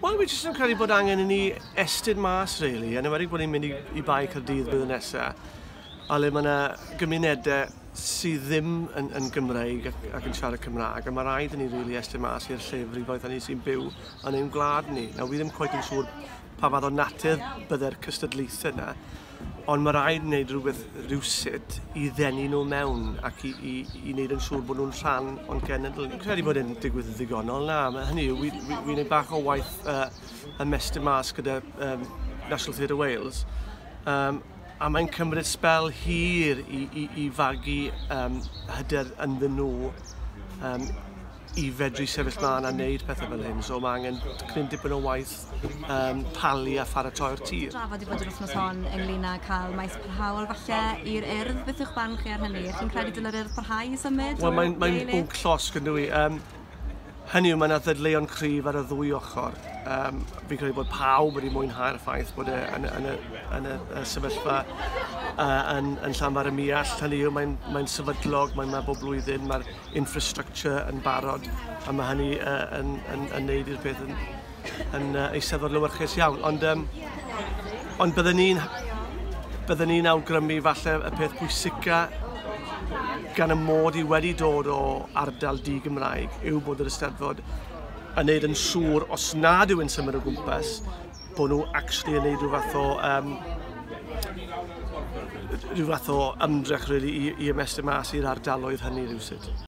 Wel, fi jyst yn credu bod angen i ni estyd mas, really, yn ymwedig bod ni'n mynd i, i Bae Cyrdydd bydd yn nesaf, a le mae yna gymunedau sydd ddim yn, yn Gymreig ac, ac yn siarad Cymraeg, a mae rhaid i ni rili really estyn mas i'r llefrifoedd hynny sy'n byw yn ein gwlad ni. Nawr, fi ddim cweith yn siŵr pa fath o natur byddai'r cystadlaethau yna, Ond mae rhaid wneud rhywbeth rhywsut i ddenu nhw mewn ac i, i, i wneud yn siŵr bod nhw'n rhan o'n cenedl. Dwi'n credu bod e'n digwydd yn ddigonol na. Mae hynny yw, fi'n fi, fi gwneud bach o waith uh, ymestyn mas gyda um, National Theatre Wales. Um, a mae'n cymryd spel hir i, i, i fagu um, hyder ynddyn nhw um, i fedru sefyll mlaen a wneud pethau fel hyn. So mae angen cryn dipyn o waith um, talu a pharatoi'r tir. Drafod i fod yr wythnos hon ynglyn â cael maes parhaol falle i'r urdd. Beth yw'ch barn chi ar hynny? Chi'n credu dylai'r urdd parhau i symud? Wel, mae'n mae bwnc llosg yn dwi. Um, hynny yw, mae yna ddadleuon cryf ar y ddwy ochr. Um, fi'n credu bod pawb wedi mwynhau'r ffaith bod e yn, yn, y, yn y, y sefyllfa uh, yn, yn llanfar y miall. Hynny yw, mae'n mae sefydlog, mae'n ma bob blwyddyn, mae'r infrastructure yn barod a mae hynny uh, yn, yn, yn neud i'r peth yn, yn uh, eisteddfod lywyrchus iawn. Ond, um, ond byddwn ni'n byddwn ni'n awgrymu falle y peth pwysica gan y mod i wedi dod o ardal di Gymraeg yw bod yr ysteddfod yn neud yn siŵr os nad yw'n symud o gwmpas bod nhw actually yn neud rhyw fath o um, rhyw fath o ymdrech really, i, i ymestyn mas i'r ardaloedd hynny rhywsyd.